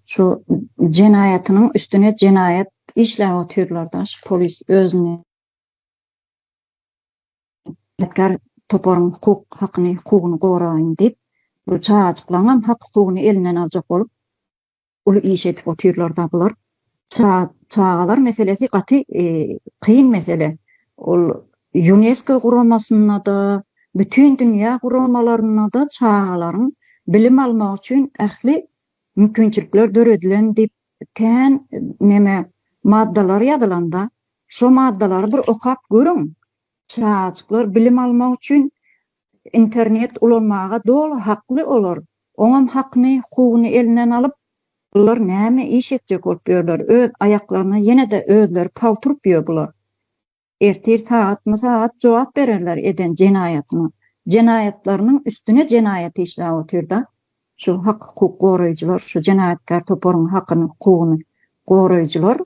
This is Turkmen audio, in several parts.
Şu jenaýatynyň üstüne jenaýat işläp otyrlar-da, şu polis özüni ýatkar toparyň hukuk hakyny, hukugyny goraýyn diýip, bu çagajyklaryňam hak-hukugyny elinden aljak bolup, uly iş edip otyrlar-da bular. Çagalar meselesi gaty kyn mesele. Ol Ýunesko guramasynda-da, bütindünýä guramalarynda-da çagalaryň bilim almagy üçin ähli mümkinçilikler döredilen diýip kän neme maddalar ýazylanda şo maddalary bir okap görüň. Çagajyklar bilim almak üçin internet ulanmaga doly hakly olar. Oňam hakyny, huguny elinden alyp bular näme iş etjek bolup ýörler öz aýaklaryna ýene-de özleri palturyp ýör bular. ertir sagatma-sagat jogap bererler eden jenaýatyna, jenaýatlarynyň üstüne jenaýat işläp otyr-da, şu hak-hukuk goraýjylar, şu jenaýatkär toparyň hakyny, hukugyny goraýjylar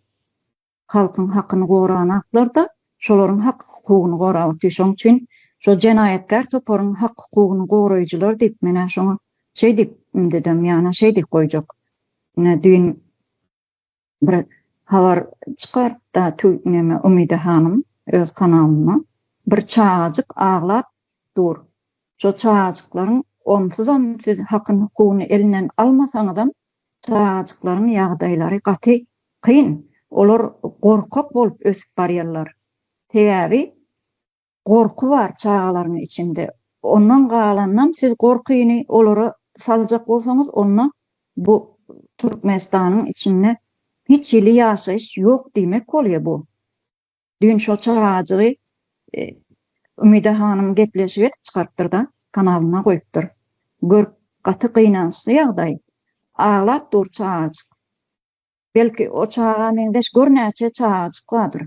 halkyň hakyny goranaklar-da, şolaryň hak-hukugyny gorap otyr. Şonuň üçin şol jenaýatkär toparyň hak-hukugyny goraýjylar diýip, men-ä şoňa şeý diýip ümdedem, ýana şeý diýip goýjak. Ine, düýn bir habar çykartda tüwmeme Umyda hanym öz kanalynda bir çagajyk aglap dur şo çagajyklaryň onsuzam siz hakyn hukugyny elinden almasaňyzam çagajyklaryň ýagdaýlary gaty kyn olar gorkak bolup ösüp barýarlar sebäbi Gorky bar çagalaryň içinde. Ondan galanynam siz gorkyny olara saljak bolsaňyz onda bu Türkmenistanyň içinde hiç hili ýaşaýyş ýok diýmek bolýa bu. Düýn şo çagajygy Umida hanym gepleşik edip çykarypdyrda kanalynda goýupdyr. Gör gaty gynançly ýagdaý. Aglap dur çagajyk. Belki o çaga meňzeş gör näçe çagajyk bardyr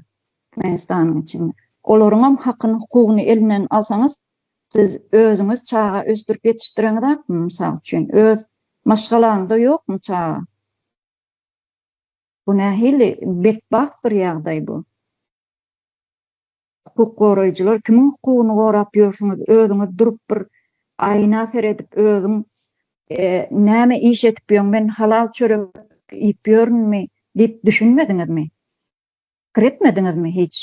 Türkmenistanyň içinde. Olaryňam hakyny, hukugyny elinden alsaňyz, siz özüňiz çaga ösdürip ýetişdireňizakmy, mysal üçin, öz maşgalaňyzda ýokmy çaga? Bu nähili betbagt bir ýagdaý bu. Hukuk goraýjylar kimiň hukugyny gorap ýörsüňiz özüňiz durup bir aýna seredip özüň näme iş edip ýöň men halal çörek iýip ýörünmi diýip düşünmediňizmi? Pikir etmediňizmi hiç?